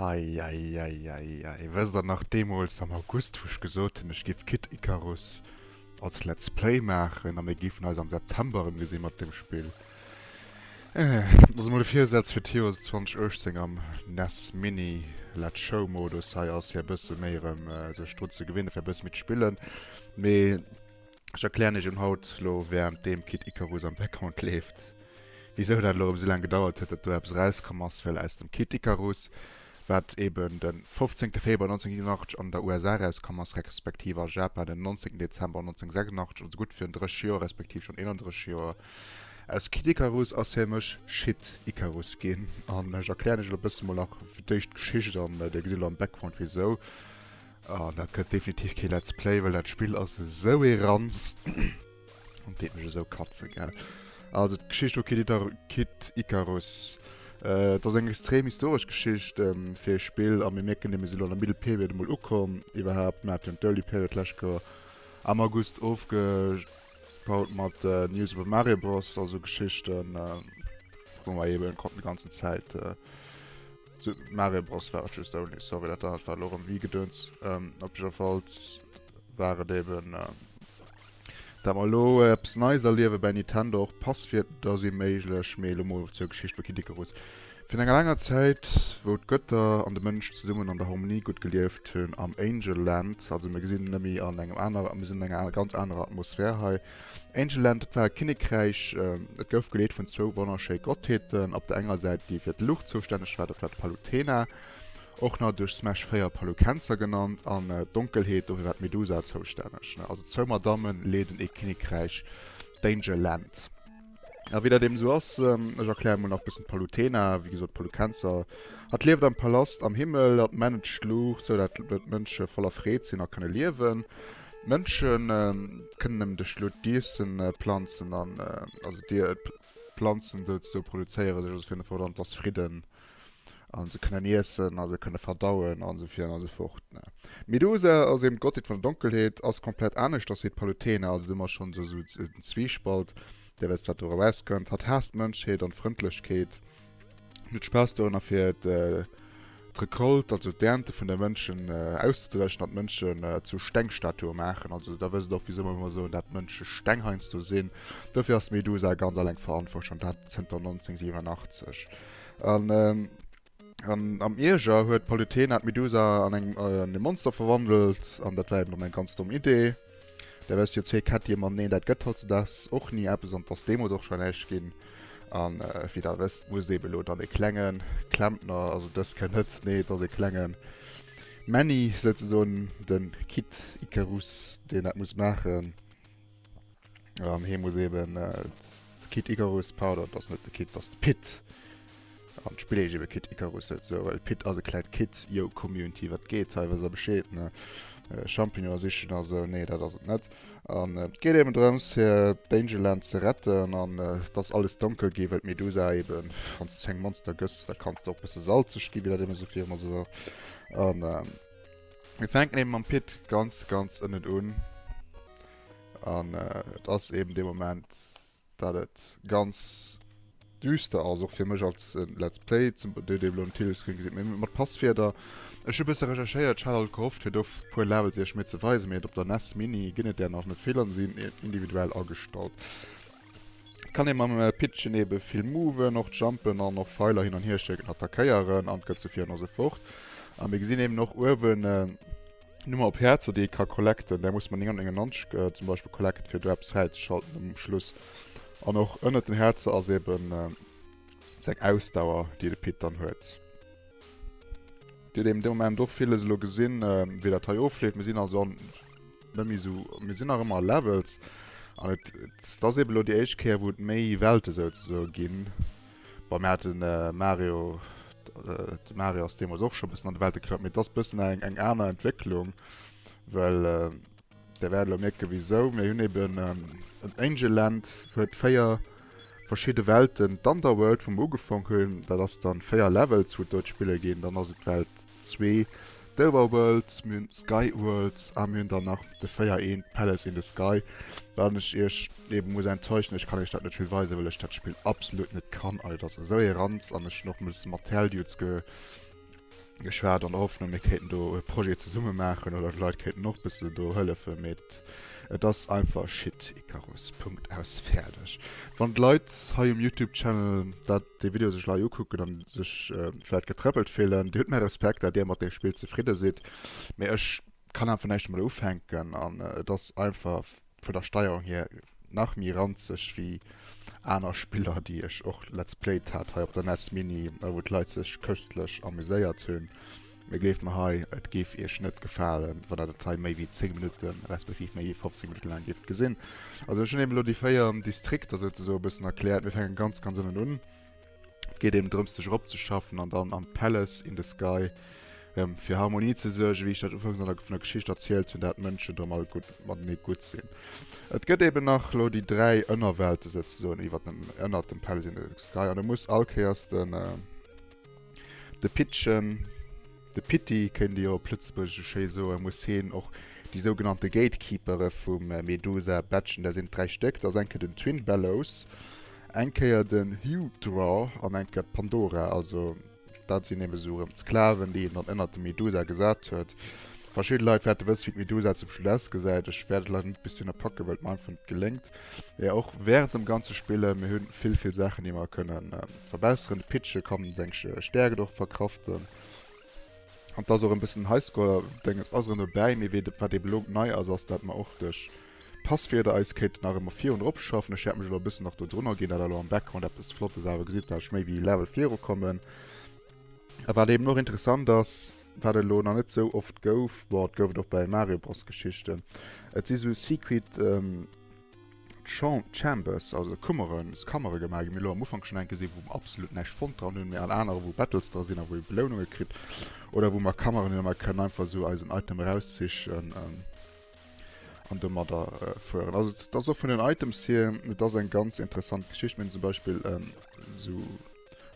Eieieiei, wësst der nach deemools am August, wou ech gesot hunn, ech géif Kid Icarus als Let's Play maachen a mir géifen eis am September erëmgesi mat deem Spill? Also mol e Virsätz fir d'Joer 2018 am nes Mini Let's Show Modus hei ass, fir e bësse méi erëm sech drun ze gewinne fir e bësse méi ze spillen, mee. Ech erklären iech un haut lo während deem Kid Icarus am Background leeft wisou dat lo erëm esou laang gedauert huet dat do eppes erauskomm ass, well aus dem Kid Icarus wat eben den 15 Februar 1987 an der USA erauskomm ass respektiv a Japan den 19 Dezember 1986, also gutt virun 30 Joer respektiv schonn 31 Joer. Aus Kid Icarus ass fir mech Shit Icarus ginn an ech erklären iech lo bësse mol nach fir d'éischt d'Geschicht an dir gesitt lo am Background wisou. Oh, dat gëtt definitiv kee Let's Play, well dat Spill ass esou ee Ranz. Dat deet mech esou katzen, gell. Also d'Geschicht vu Kid Icarus. Et ass eng extrem historesch Geschicht fir e Spill a mir mierken deem, mir sinn elo an der Middle Period emol ukomm. Iwwerhaapt, mir haten jo d'Early Period d'lescht Joer am August ofgebaut mat News iwwer Mario Bros a sou Geschichten, wou mer eeben konnten déi ganzen Zäit Mario Bros war et just ouni, sorry, dat anert war elo erëm wéi Gedöns. Ähm, op jiddwerfalls war et eben, ähm, dat mer elo eppes Neies erliewe bei Nintendo, och Passwierter si méiglech, mee elo emol zur Geschicht vu Kid Icarus. Virun enger laanger Zäit, wou d'Götter an de Mënsch zesummen an der Harmonie gutt gelieft hunn am Angel Land, also mir gesinn en nëmme an engem aner, mir sinn an enger aner, ganz anerer Atmosphär hei, Angelland, dat war e Kinnekräich, dat gouf geleet vun zwou wonnerschéi Gottheeten. Op der enger Säit déi fir d'Luucht zoustänneg war, dat war d'Palutena, och nach duerch Smash 4 Palukenser genannt, an d'Donkelheet, dofir war d'Medusa zoustänneg. Also zwou Madammen leeden ee Kinnekräich, d'Angelland. A wéi dat eben esou ass, ech erkläre mol nach bëssen d'Palutena, wéi gesot d'Palukenser, hatt lieft am Palast am Himmel, hatt managed d'Luucht, sou dat d'Mënsche voller Freed sinn a kënne liewen. D'Mënsche kënnen nëmmen duerch d'Luucht d'Iessen planzen, also d'Planzen souzesou produzéiere sech also fir en Fort an et ass Fridden. a se kënnen iessen a se kënne verdauen a sou virun a sou fort. D'Medusa ass eben d'Gottheet vun der Donkelheet, ass komplett aneschters wéi d'Palutena, also do hu mer schonn esou esou den Zwiespalt, dee wéinst dat do erauskënnt. Hatt haasst d'Mënschheet an d'Frëndlechkeet an huet Spaass dorënner, fir d'Recolte, also d'Ernte vun de Mënschen auszedreschen an d'Mënschen zu Stengstatue maachen. Also da wësst et och, wisou mer ëmmer soen, dat d'Mënsche Steng heiansdo sinn. Dofir ass d'Medusa ganz eleng verantwortlech, an dat zënter 1987. An am Ierger huet d'Palutena d'Medusa an e Monster verwandelt, an dat war eben och eng ganz domm Idee. Da wärst du jo zwee Kättchen, ma neen, dat gëtt hautzedags och ni eppes an et ass deemools och schonn näischt ginn. An wéi der wësst, musst eben elo dann e klenge Klempner, also dës kënnt net, nee, et ass e klenge Männi souzesoen, de Kid Ikarus, deen dat muss maachen. An hee muss eben äh, Kit Icarus Powder, dat ass net de Kit, dat ass de Pit. An spill ech ebe Kit Icarus et so, well Pit ass e kläit Kit, yo Community, wat geet hei, wat a bescheet ne? Äh, Champignon sichen a so, nee, dat ass et net. An äh, geet eben drëms fir Dangerland ze retten an äh, dass alles donkel gi, well Medusa eben, wann ze eng Monster gëss, da kanns du och bësse salzeg gi, wie dat eben so fir immer so war. An äh, Mir fänken eben am Pit ganz, ganz ënnen un. An äh, et ass eben de Moment, dat et ganz düster ass, och fir mech als äh, Let's Play, zum de de lo Titelscreen gesit mé mat Passwierder. Ech hu bësse recherchéiert, ech hat alt gehofft, fir do puer Levels iech méi ze weisen, mee op der NES Mini ginn et där nach net. D'Feelern sinn individuell agestallt. Et kann ee mam Pitchen eebe vill moven, och jumpen an och Feiler hin an hier schécken, attackéieren an d'Gëtze fieren also fort. A mir gesinn eeben och uewen Nummer op Häerzer, déi ee ka collecten. Där muss mer 9 an 99 zum Beispill collecten, fir do eppes fräizeschalten um Schluss. An och ënnert den Häerzer ass eebe seng Ausdauer, déi de Pit dann huet. Dir hutt eeben dee Moment och villes elo gesinn, wéi dat hei ofleeft. Mir sinn also an. net méi esou, mir sinn nach ëmmer a Levels an et ass eben elo déi éischt Kéier wou et méi Welte souzesoe ginn. Bei mir hat den Mario de Mario ass deemoos och scho bëssen an de Welte geklappt, mee et ass bëssen eng eng aner Entwécklung, well Der wäert elo mierke wisou. Mir hunn eben en Angel Land huet 4 verschidde Welten, d'Underworld wou mer ugefaang hunn, dat ass dann 4 Levels wou et do d'Spille ginn, dann ass et d'Welt, zwee d'Over Worlds, mir hunn d'Sky Worlds a mir hunn dann nach de 4 een d'Palace in the Sky, wat ech iech eben muss enttäuschen, ech kann iech dat net vill weisen, well ech dat Spill absolut net kann an et ass esou ee Ranz an ech hunn och muss mat Tell Dudes ge geschwat an der Hoffnung mir kéinten do e Projet zesumme maachen oder d'Leit kéinten och bëssen do hëllefen, mee et et ass einfach Shit Icarus, Punkt aus, fäerdeg. Wann d'Leit hei um Youtube Channel dat déi Video sech lei ukucken an sech vläit getrëppelt fillen. Dir hutt mäi Respekt dat dir mat deem Spill zefridde sidd, mee ech kann einfach näischt domadder ufänken an et ass einfach vun der Steierung hier nach méi ranzeg wéi aner Spiller déi ech och let's played hat hei op der nes Mini a wou d'Leit sech köstlech amuséiert hunn. Mee gleeft mer hei, et géif iech net gefalen, wann der dat hei méi wéi 10 Minutten, respektiv méi wéi 15 Minutte laang géift gesinn. Also ech hunn eben elo déi 4 Distrikter souzesoen e bëssen erkläert. Mir fänken ganz, ganz ënnen un. Et geet eben drëms, sech eropzeschaffen an dann am Palace in the Sky erëm fir Harmonie ze suergen, wéi ech dat ufanks an der, vun der Geschicht erzielt hunn, dat d'Mënschen erëm all gutt matenee gutt sinn. Et gëtt eben nach elo déi dräi Ënnerwelte souzesoen iwwert dem, ënnert dem Palace in the Sky an et muss all Kéiers den, De Pittchen, de Pitti kéint ee jo op Lëtzebuergesch esou schéi soen, muss heen och déi sougenannte Gatekeepere vum Medusa batchen. Dat sinn d'dräi Stéck, dat ass eng Kéier den Twin Bellows, eng Kéier den Hugh Draw an eng Kéier d'Pandora. Also dat sinn eben esou erëm d'Sklaven, déi een dann ënnert dem Medusa gesat huet. Verschidde Leit wäerte wësse wéi d'Medusa zum Schluss ausgesäit. Ech wäert et leider net bis dohinner packen, well et mer einfach net geléngt. Mee och wärend dem ganze Spillen, mir hu vill vill Saachen déi mer kënnen. Verbesseren de Pitche kann seng Stärken och verkraften an dass och en bëssen Highscore Denges ass erëm dobäi. Mee wéi wat eben elo nei ass, ass dat mer och duerch Passwierder eis kéinten nach ëmmer virun erop schaffen. Ech hätt mech elo e bëssen nach dodrunner ginn, dat elo am Background eppes Flottes awer gesitt, dass ech méi wéi Level viru kommen. A wat eben och interessant ass, wat et elo nach net sou oft gouf, bon et gouf et och bei Mario Bros Geschichten, et si sou Secret, D'Chambers, also d'Kummeren, d'Kammeregemach, gi mir elo am Ufank schonn eng gesinn, wou mer absolut näischt fonnt dran hunn, mee an anere wou Battles dra sinn a wou ee Beloununge kritt oder wou mer Kammeren hunn a mer kënnen einfach esou eisen Item erauszischen an domadder fueren. Also et ass och vun den Items hier, et ass eng ganz interessant Geschicht. Mir hunn zum Beispill esou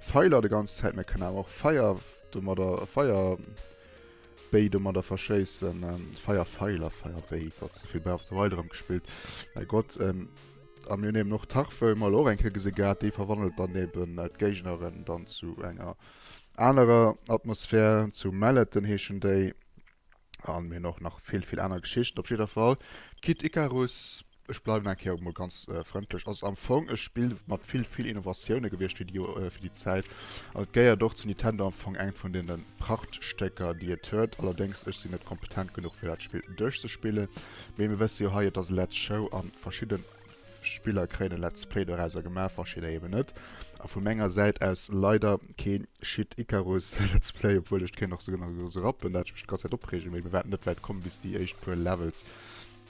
Feiler de ganz Zäit, mir kënnen awer och Feier domadder Feier. Béi domadder verschéissen, Feier Feil a Feier Béi, Gott esou vill Bäi op der Weide rëm gespillt, mäi Gott. A mir hunn eben och Tarfe, hu mer elo och eng Kéier gesi gehat, déi verwandelt dann eben d'Géigneren dann zu enger anerer Atmosphär, zu Malleten heeschen déi. An mir hunn och nach vill, vill aner Geschichten. Op jidder Fall, Kid Ikarus, Ech bleiwen eng Kéier emol ganz frëndlech. Ass am Fong e Spill mat vill, vill Innovatioune gewiescht fir déi, fir déi Zäit. An et gehéiert och zu Nintendo am Fong engt vun deene Prachtstécker, déi et huet. Allerdéngs, ech sinn net kompetent genuch, fir dat Spill duerchzespillen. Mee mir wësse jo hei, et ass e Let's Show a verschidde Spiller kréien e Let's Play dorausser gemaach, verschidder eeben net. A vu menger Säit aus leider kee Schied Icarus Let's Play, obwuel ech kéint nach souguer nach e Serappen, dat ech mech d'ganz Zäit opreegen. Mee mir waarden net wäit kommen, bis déi éischt puer Levels.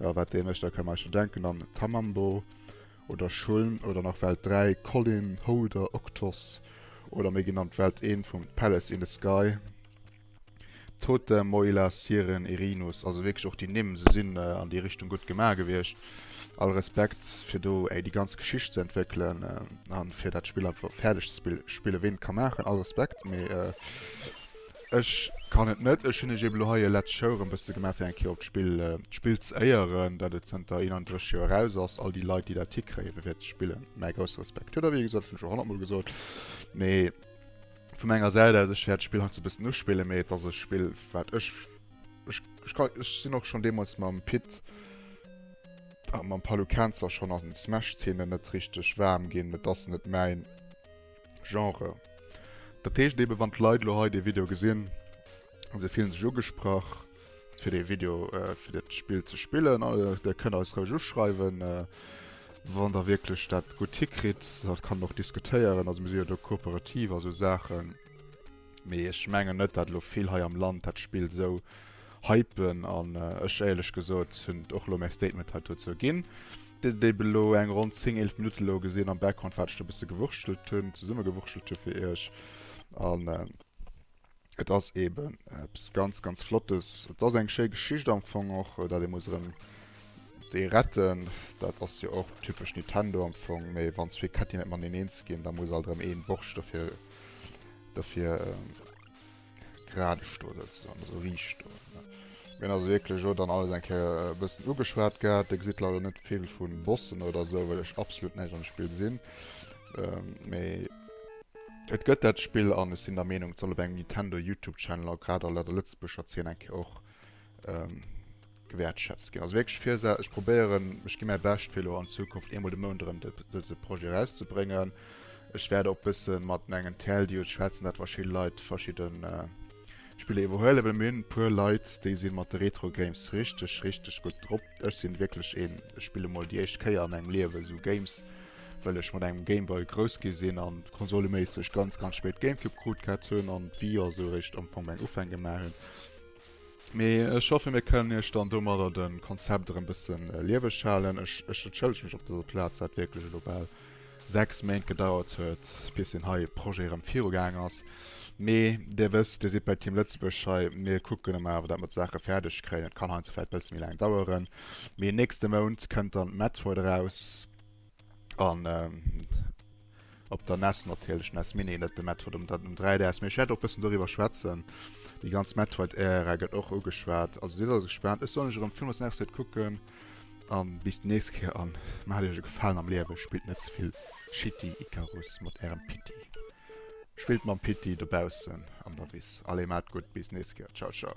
Jo, wat dänesch, da kann een eischter denken an Tamambo oder Shuln oder nach Welt 3, Colin, Holder, Octos oder méi genannt Welt 1 vum Palace in the Sky, Totem, Moila, Siren, Erinus, also wierklech och déi Nimm, se sinn an déi Richtung gutt gemaach gewiescht. All Respekt fir do déi ganz Geschicht ze entwéckelen a fir dat Spill einfach fäerdeg ze spillen. Ween et ka maachen, all Respekt, mee. Ech kann et net. Ech hunn ech eben elo hei e Let's Show erëm bësse gemaach, fir eng Kéier op d'Spill, d'Spill ze éieren, dat et zënter 31 Joer eraus ass. All déi Leit, déi dat hikréien, fir dat ze spillen, mäi grousse Respekt. Huet der wéi gesot, hunn ech scho honnertmol gesot. Mee vu menger Säit aus, ech wäert d'Spill heiansdo e bëssen uspillen, mee et ass e Spill, wat ech, ech, ech ka, ech sinn och schonn deemools mam Pit a mam Palukenzer schonn an Smash-Zeenen net richteg waarm ginn. Et ass net mäin. Genre. Dat heescht eben, wann d'Leit elo hei dee Video gesinn, se fillen sech ugesprach, fir dee Video, äh, fir dat Spill ze spillen. Äh, der kënnt eis roueg uschreiwen, äh, wann der wierklech dat gutt hikritt. Dat kann och diskutéieren, also mir si jo do kooperativ a sou Saachen. Mee ech mengen net, dat elo vill hei am Land dat Spill sou hypen an äh, ech éierlech gesot hunn och elo mäi Statement hei dozou ginn. Déi belo eng ronn 10, 11 Minutte elo gesin am Background wat ech do bisse gewurschtelt hun, zesummegewurschtelt hun fir iech. An et as eben eppes ganz ganz flottes. Et as eng schéi Geschicht am Fong och, dat ee muss erem déi retten. Dat as jo och typesch Nintendo am Fong. Mee wann zwee Ketti net mateneen eens gin, da muss alt erem een Borscht derfir derfir Gradeg do sëtzen, an esou riicht do. Mir hunn also wierklech och dann alles eng Kéier e bëssen ugeschwat gehat. Dir gesitt leider net vill vu Bossen oder esou, well ech absolut näischt an de Spill sinn. Mee et gëtt dat Spill an ech sinn der Meenung, et soll op engem Nintendo-YouTube-Channel a grad a der Lëtzebuerger Zeen eng Kéier och ähm, gewertschätzt gin. Also wirklich fir se ech probéieren ech gi mäi bescht fir lo an Zukunft eemol de Mount rem dëse Projet rauszubréngen. Ech werde op bësse mat engen Tell Di schwätzen dat verschi Leiit verschidden äh, Spiele iwwerhuele well mir hunn puer Leiit déi sinn mat de Retro Games richteg richteg gutt drop. Ech sinn wierklech een ech spille mol déi éischt Kéier an engem Liewen esou Games well ech mat engem Gameboy grouss gi sinn an konsoleméisseg ganz ganz spéit Gamecube krut gehat hunn an d'Wii jo esou eréischt am Fong meng Ufäng gemaach hunn. Mee ech hoffe mir kënnen iech dann domadder de Konzept erëm bëssen lieweg halen. Ech ech entschëllege mech op dëser Plaz, dat wierklech elo bal 6 Méint gedauert huet, bis deen hei Projet erëm virugaang ass. Mee Dir wësst, Dir sidd bei Team Lëtzebuerg hei, mir kucken ëmmer awer, datt mer d'Saache fäerdeg kréien. Et kann heiansdo vläicht e bësse méi laang daueren, mee nächste Mount kënnt dann d'Method eraus. An ähm, op der NES natierlech, NES Mini, net de Metroid um, um 3DS. Mee ech wäert och bëssen doriwwer schwätzen. Déi ganz Metroid-Ära gëtt och ugeschwat. Also sidd also gespaant. Ech soll mech erëm Films nächst Zäit kucken. An bis d'nächst Kéier an maacht iech e Gefalen am Liewe. Spillt net ze vill Shitty Icarus mat ärem Pitti. Spillt mam Pitti dobaussen an der Wiss. Allez, maacht gutt, bis d'nächst Kéier. Ciao, ciao.